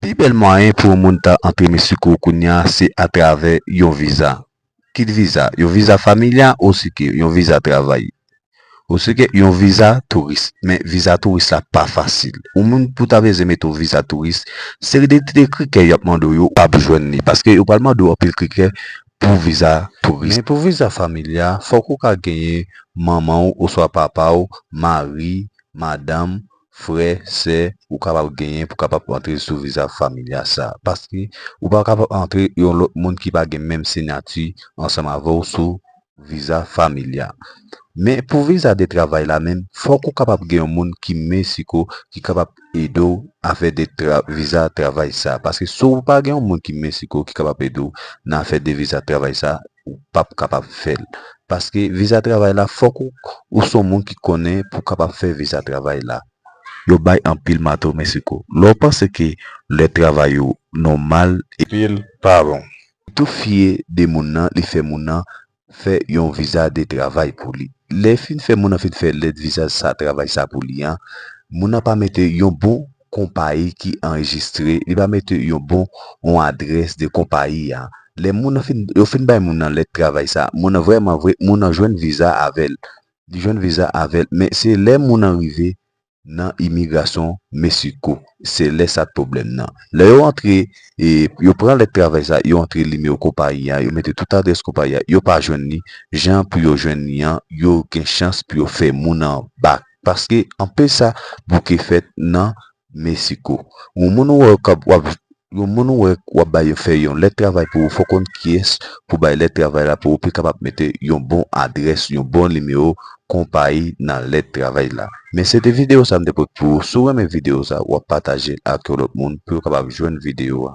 Pi bèl mwayen pou yon moun ta antre Meksiko kounya se atravè yon viza. Kit viza, yon viza familya osike yon viza travay. Osike yon viza touris. Men viza touris la pa fasil. Yon moun pou ta beze mete yon viza touris, seri de ti krikè y ap mande w yo, w ap jwenn li. Paske yo pral mande w anpil krikè pou viza touris. Men pou viza familya, fòk ou ka genyen manman w oswa papa w, mari, madanm, frè, sè ou kapab genyen pou kapab antre sou viza familya sa. Paske ou pa kapab antre yon lòt moun ki pa gen menm siyati ansanm avè w sou viza familya. Men pou viza de travay la menm, fòk ou kapab gen yon moun ki Mexico ki kapab ede w afè de viza travay sa. Paske si w pa gen yon moun ki Mexico ki kapab ede w nan afè de viza travay sa, ou pap kapab fèl paske viza travay la fòk ou son moun ki konnen pou kapab fè viza travay la yo bay anpil mato mesico lè ou panse ke lè travay ou nòmal epil pa bon ou tou fye de moun nan li fè moun nan fè yon viza de travay pou li lè fin fè moun nan fin fè lèt viza sa travay sa pou li an moun nan pa mete yon bon. konpayi ki anrejistre, li va mete yon bon yon adrès de konpayi a. Lè moun nan fin, yo fin bay moun nan lèt travay sa, moun nan vrèman vre, moun nan jwenn viza avè l. Li jwenn viza avè l, men se lè moun nan rive nan imigrasyon Meksiko, se lè sa pwoblèm nan. Lè yo antre, e yo pran lèt travay sa, yo antre nimewo konpayi a, yo mete tout adrès konpayi a, yo pa jwenn li, jan pou yo jwenn li an, yo gen chans pou yo fè moun nan bak. Paske anpe sa bouke fèt nan Mexico. Yon moun ou wè kap wap yon moun ou wè wap bay yon fè yon lèt travay pou ou fò konn kiyès pou bay lèt travay la pou ou pi kapab mete yon bon adrès yon bon nimewo konpayi nan lèt travay la. Men se te video sa m te pot pou ou si w renmen video sa wap patajel ak yon lòt moun pou yo kapab jwenn video a.